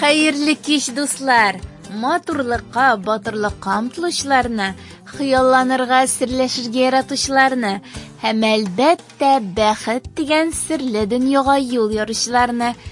Хәерле кич, дуслар! Матурлыкка, батырлыкка омтылучыларны, хыялланырга, серләшергә яратучыларны һәм әлбәттә бәхет дигән серле дөньяга юл яручыларны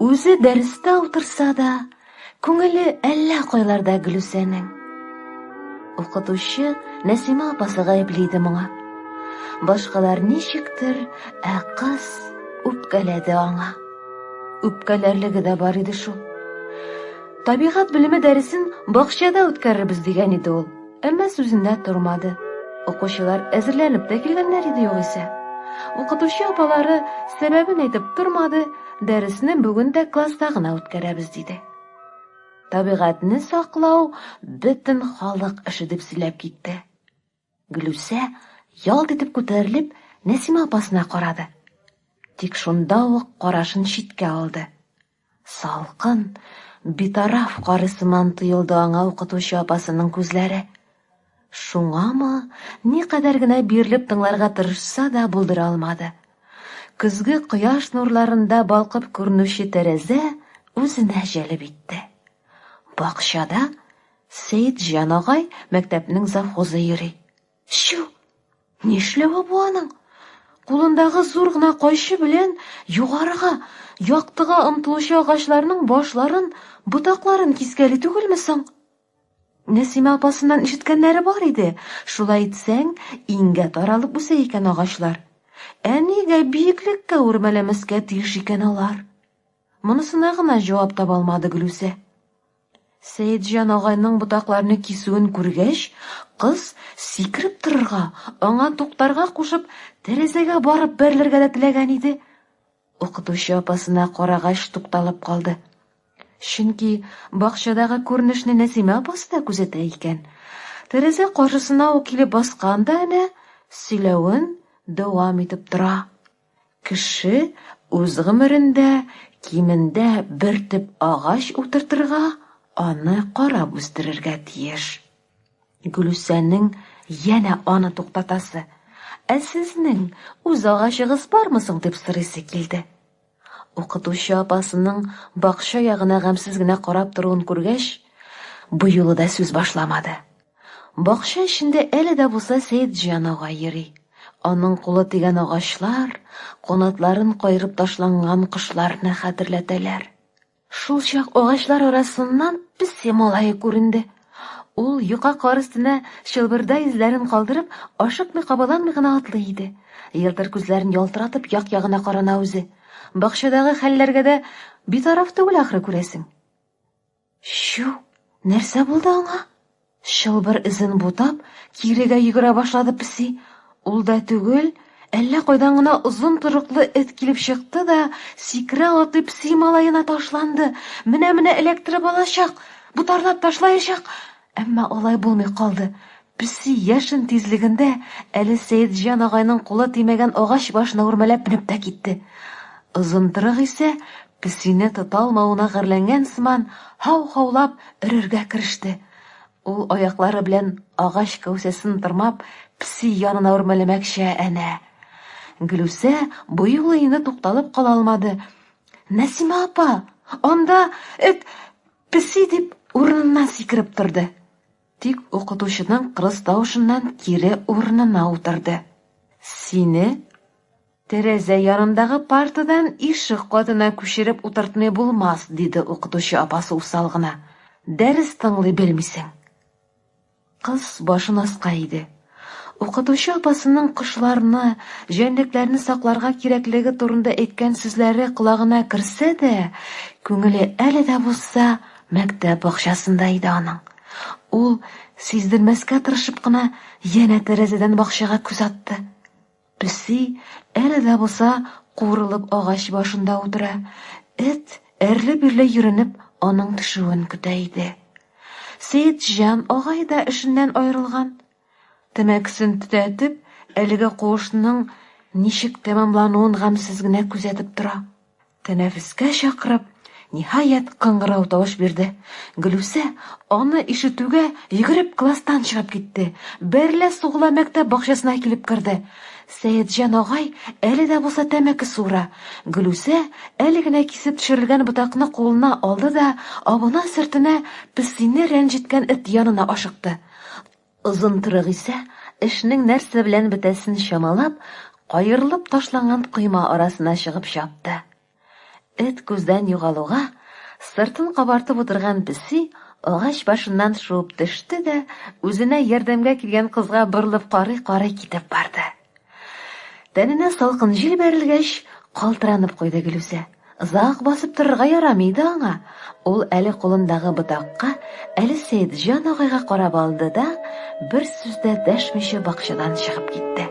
Үзе дәрестә утырса да, күңеле әллә кайларда Гөлүсәнең. Укытучы Нәсимә апасы гаепли иде моңа. Башкалар ничектер, ә кыз үпкәләде аңа. Үпкәләрлеге дә бар иде шул. Табигать белеме дәресен бакчада үткәрербез дигән иде ул. Әмма сүзендә тормады. Укучылар әзерләнеп тә килгәннәр иде югыйсә. Укытучы апалары сәбәбен әйтеп тормады, дәресне бүген дә класста гына үткәрәбез диде. Табигатьне саклау бөтен халык эше дип сөйләп китте. Гөлүсә ялт итеп күтәрелеп Нәсимә апасына карады. Тик шунда ук карашын читкә алды. Салкын, битараф кары сыман тоелды аңа укытучы апасының күзләре. Шуңамы, никадәр генә бирелеп тыңларга тырышса да булдыра алмады. Көзге кояш нурларында балкып күренүче тәрәзә үзенә җәлеп итте. Бакчада Сәетҗан агай мәктәпнең завхозы йөри. Чү! Нишләве бу аның? Кулындагы зур гына кайчы белән югарыга, яктыга омтылучы агачларның башларын, ботакларын кискәли түгелме соң? Нәсимә апасыннан ишеткәннәре бар иде. Шулай итсәң, иңгә таралып үсә икән агачлар. Әнигә биеклеккә үрмәләмәскә тиеш икән алар. Монысына гына җавап таба алмады Гөлүсә. Сәетҗан агайның ботакларны кисүен күргәч, кыз, сикереп торырга, аңа туктарга кушып, тәрәзәгә барып бәрелергә дә теләгән иде. Укытучы апасына карагач тукталып калды. Чөнки бакчадагы күренешне Нәсимә апасы да күзәтә икән. Тәрәзә каршысына ук килеп баскан да әнә сөйләвен дәвам итеп тора. Кеше үз гомерендә кимендә бер төп агач утыртырга, аны карап үстерергә тиеш. Гөлүсәнең янә аны туктатасы, Ә сезнең үз агачыгыз бармы соң? дип сорыйсы килде. Укытучы апасының бакча ягына гамьсез генә карап торуын күргәч, бу юлы да сүз башламады. Бакча эчендә әле дә булса Сәетҗан ага йөри. Аның кулы тигән агачлар, канатларын кайрып ташланган кошларны хәтерләтәләр. Шул чак агачлар арасыннан песи малае күренде. Ул юка кар өстенә чылбырда эзләрен калдырып, ашыкмый-кабаланмый гына атлый иде. Елтыр күзләрен ялтыратып як-ягына карана үзе. Бакчадагы хәлләргә дә битараф түгел ахры күрәсең. Чү, нәрсә булды аңа? Шылбыр эзен бутап, кирегә йөгерә башлады песи. Ул да түгел, әллә кайдан гына озын торыклы эт килеп чыкты да, сикерә атлый песи малаена ташланды. Менә-менә эләктереп алачак, бутарлап ташлаячак. Әмма алай булмый калды. Песи яшен тизлегендә әле Сәетҗан агайның кулы тимәгән агач башына үрмәләп менеп тә китте. Озынтрык исә, песине тота алмавына гарьләнгән сыман, һау-һаулап өрергә кереште. Ул аяклары белән агач кәүсәсен тырмап, песи янына үрмәләмәкче, әнә. Гөлүсә бу юлы инде тукталып кала алмады. Нәсимә апа, анда эт, песи, дип, урыныннан сикереп торды. Тик укытучының кырыс тавышыннан кире урынына утырды. Сине тәрәзә янындагы партадан ишек катына күчереп утыртмый булмас, диде укытучы апасы усал гына. Дәрес тыңлый белмисең. Кыз башын аска иде. Укытучы апасының кошларны, җәнлекләрне сакларга кирәклеге турында әйткән сүзләре колагына керсә дә, күңеле әле дә булса мәктәп бакчасында иде аның. Ул, сиздермәскә тырышып кына, янә тәрәзәдән бакчага күз атты. Песи, әле дә булса, куырылып агач башында утыра. Эт, әрле-бирле йөренеп, аның төшүен көтә иде. Сеидҗан агай да эшеннән аерылган. Тәмәкесен төтәтеп, әлеге куышның ничек тәмамлануын гамьсез генә күзәтеп тора. Тәнәфескә чакырып, ниһаять, кыңгырау тавыш бирде. Гөлүсә, аны ишетүгә, йөгереп класстан чыгып китте. Бәрелә сугыла мәктәп бакчасына килеп керде. Сәетҗан агай әле дә булса тәмәке суыра. Гөлүсә әле генә кисеп төшерелгән ботакны кулына алды да абына-сөртенә песине рәнҗеткән эт янына ашыкты. Озын кырык исә, эшнең нәрсә белән бетәсен чамалап, каерылып ташланган койма арасына чыгып чапты. Эт күздән югалуга, сыртын кабартып утырган песи агач башыннан шуып төште дә, үзенә ярдәмгә килгән кызга борылып карый-карый китеп барды. Тәненә салкын җил бәрелгәч, калтыранып куйды Гөлүсә. Озак басып торырга ярамый иде аңа. Ул әле кулындагы ботакка, әле Сәетҗан агайга карап алды да, бер сүз дә дәшмичә бакчадан чыгып китте.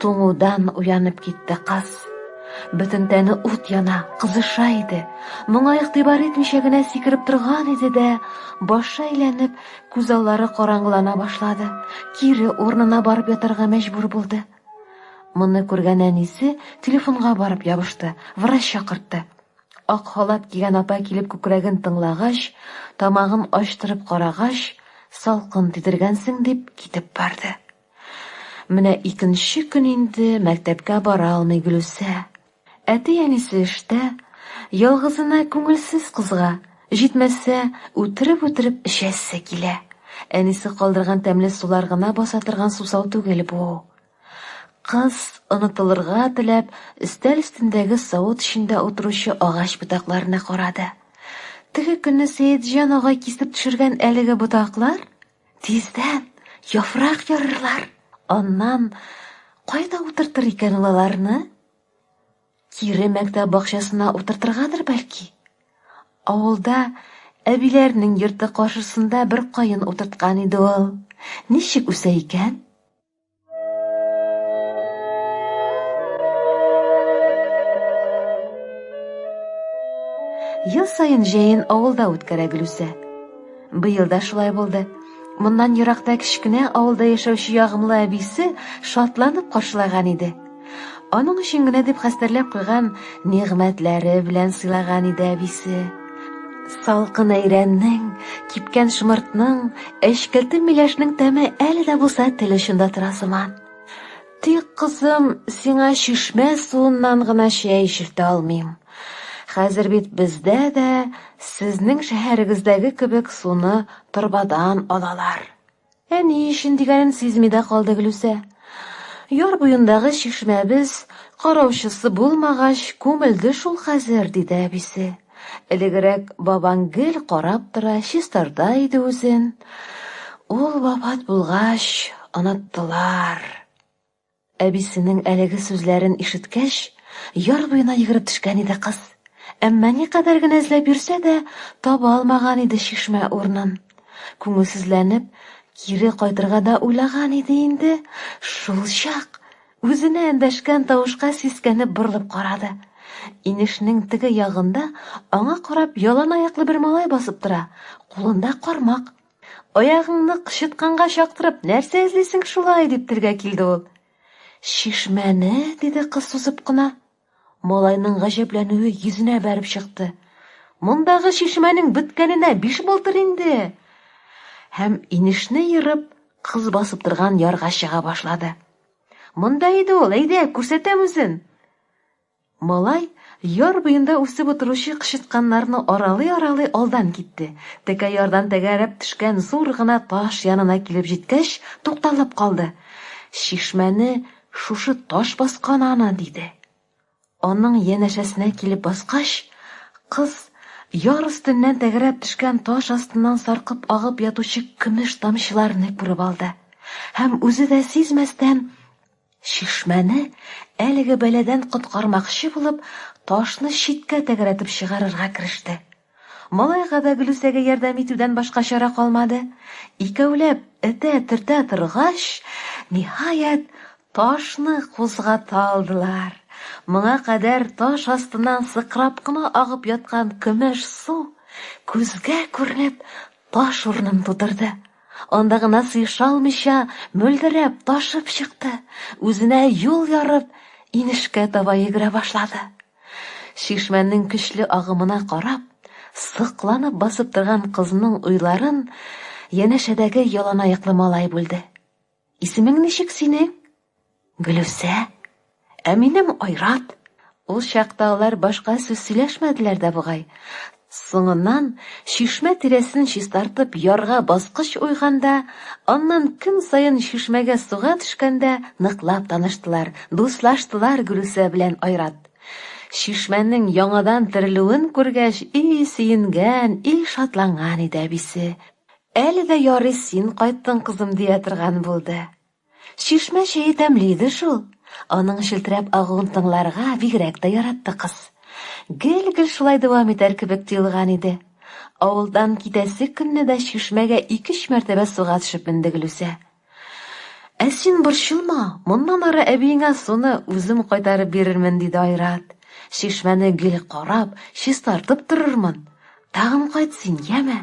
Туңудан уянып китте кыз. Бөтен тәне ут яна, кызыша иде. Моңа игътибар итмичә генә сикереп торган иде дә, башы әйләнеп, күз аллары караңгылана башлады. Кире урынына барып ятарга мәҗбүр булды. Моны күргән әнисе телефонга барып ябышты, врач чакыртты. Ак халат кигән апа килеп күкрәген тыңлагач, тамагын ачтырып карагач, салкын тидергәнсең дип китеп барды. Менә икенче көн инде мәктәпкә бара алмый Гөлүсә. Әти-әнисе эштә, ялгызына күңелсез кызга, җитмәсә, үтереп-үтереп эчәсе килә. Әнисе калдырган тәмле сулар гына баса торган сусау түгел бу. Кыз, онытылырга теләп, өстәл өстендәге савыт эчендә утыручы агач ботакларына карады. Теге көнне Сәетҗан агай кисеп төшергән әлеге ботаклар Тиздән яфрак ярырлар. Аннан кайда утыртыр икән ул аларны? Кире мәктәп бакчасына утыртыргадыр бәлки. Авылда әбиләрнең йорты каршысында бер каен утырткан иде ул. Ничек үсә икән? Ел сайын җәен авылда үткәрә Гөлүсә. Быел да шулай булды. Моннан еракта кечкенә авылда яшәүче ягымлы әбисе шатланып каршылаган иде. Аның өчен генә дип хәстәрләп куйган нигъмәтләре белән сыйлаган иде әбисе. Салкын әйрәннең, кипкән шмыртның, әчкелтем миләшнең тәме әле дә булса тел очында тора сыман. Тик, кызым, сиңа чишмә суыннан гына чәй эчертә алмыйм. Хәзер бит бездә дә сезнең шәһәрегездәге кебек суны торбадан алалар. Ә ни өчен дигәнен сизми дә калды Глүсә. Яр буендагы чишмәбез караучысы булмагач, күмелде шул хәзер, диде әбисе. Элегрәк бабаң гел карап тора, чистарта иде үзен. Ул вафат булгач, оныттылар. Әбисенең әлеге сүзләрен ишеткәч, яр буена йөгереп төшкән иде кыз. Әмма никадәр генә эзләп йөрсә дә, таба алмаган иде чишмә урынын. Күңелсезләнеп, кире кайтырга да уйлаган иде инде, шулчак Үзенә эндәшкән тавышка сискәнеп борылып карады. Инешнең теге ягында аңа карап яланаяклы бер малай басып тора, кулында кармак. Аягыңны кычытканга чактырып, нәрсә эзлисең шулай? дип телгә килде ул. Чишмәне, диде кыз сузып кына. Малайның гаҗәпләнүе йөзенә бәреп чыкты. Мондагы чишмәнең беткәненә биш булдыр инде. Һәм инешне ерып, кыз басып торган ярга чыга башлады. Монда иде ул, әйдә, күрсәтәм үзен. Малай, яр буенда үсеп утыручы кычытканнарны аралый-аралый алдан китте. Текә ярдан тәгәрәп төшкән зур гына таш янына килеп җиткәч, тукталып калды. Чишмәне шушы таш баскан аны, диде. Аның янәшәсенә килеп баскач, кыз яр өстеннән тәгәрәп төшкән таш астыннан саркып агып ятучы көмеш тамчыларны күреп алды һәм үзе дә сизмәстән Чишмәне әлеге бәладән коткармакчы булып, ташны читкә тәгәрәтеп чыгарырга кереште. Малайга да Гөлүсәгә ярдәм итүдән башка чара калмады. Икәүләп этә-төртә торгач, ниһаять, ташны кузгата алдылар. Моңа кадәр таш астыннан сыкрап кына агып яткан көмеш су, күзгә күренеп, таш урынын тутырды. Анда гына сыеша алмыйча, мөлдерәп, ташып чыкты. Үзенә юл ярып, инешкә таба йөгерә башлады. Чишмәнең көчле агымына карап, сыкланып басып торган кызның уйларын янәшәдәге яланаяклы малай бүлде. Исемең ничек синең? Гөлүсә. Ә минем Айрат. Ул чакта алар башка сүз сөйләшмәделәр дә бугай. Соңыннан, чишмә тирәсен чистартып ярга баскыч уйганда, аннан көн саен чишмәгә суга төшкәндә ныклап таныштылар, дуслаштылар Гөлүсә белән Айрат. Чишмәнең яңадан терелүен күргәч, и сөенгән, и шатланган иде әбисе. Әле дә ярый син кайттың, кызым, дия торган булды. Чишмә чәе тәмле иде шул. Аның челтерәп агуын тыңларга бигрәк тә яратты кыз. Гел-гел шулай дәвам итәр кебек тоелган иде. Авылдан китәсе көнне дә чишмәгә ике-өч мәртәбә суга төшеп менде Гөлүсә. Ә син борчылма, моннан ары әбиеңә суны үзем кайтарып бирермен, диде Айрат. Чишмәне гел карап, чистартып торырмын. Тагын кайт син, яме.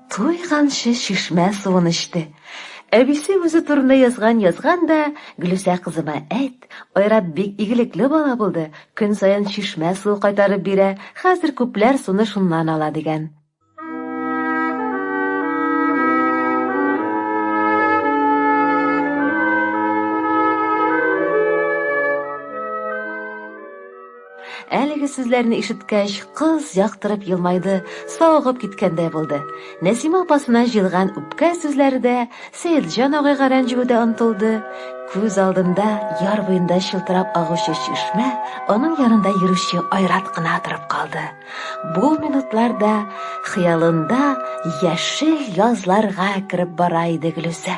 Туйганчы чишмә суын эчте. Әбисе үзе турында язган язган да, Гөлүсә кызыма әйт, Айрат бик игелекле бала булды, көн саен чишмә суы кайтарып бирә, хәзер күпләр суны шуннан ала, дигән. Әлеге сүзләрне ишеткәч, кыз яктырып елмайды, савыгып киткәндәй булды. Нәсимә апасына җыелган үпкә сүзләре дә, Сәетҗан агайга рәнҗүе дә онтылды. Күз алдында яр буенда чылтырап агучы чишмә, аның янында йөрүче Айрат кына торып калды. Бу минутларда хыялында яшел язларга кереп бара иде Гөлүсә.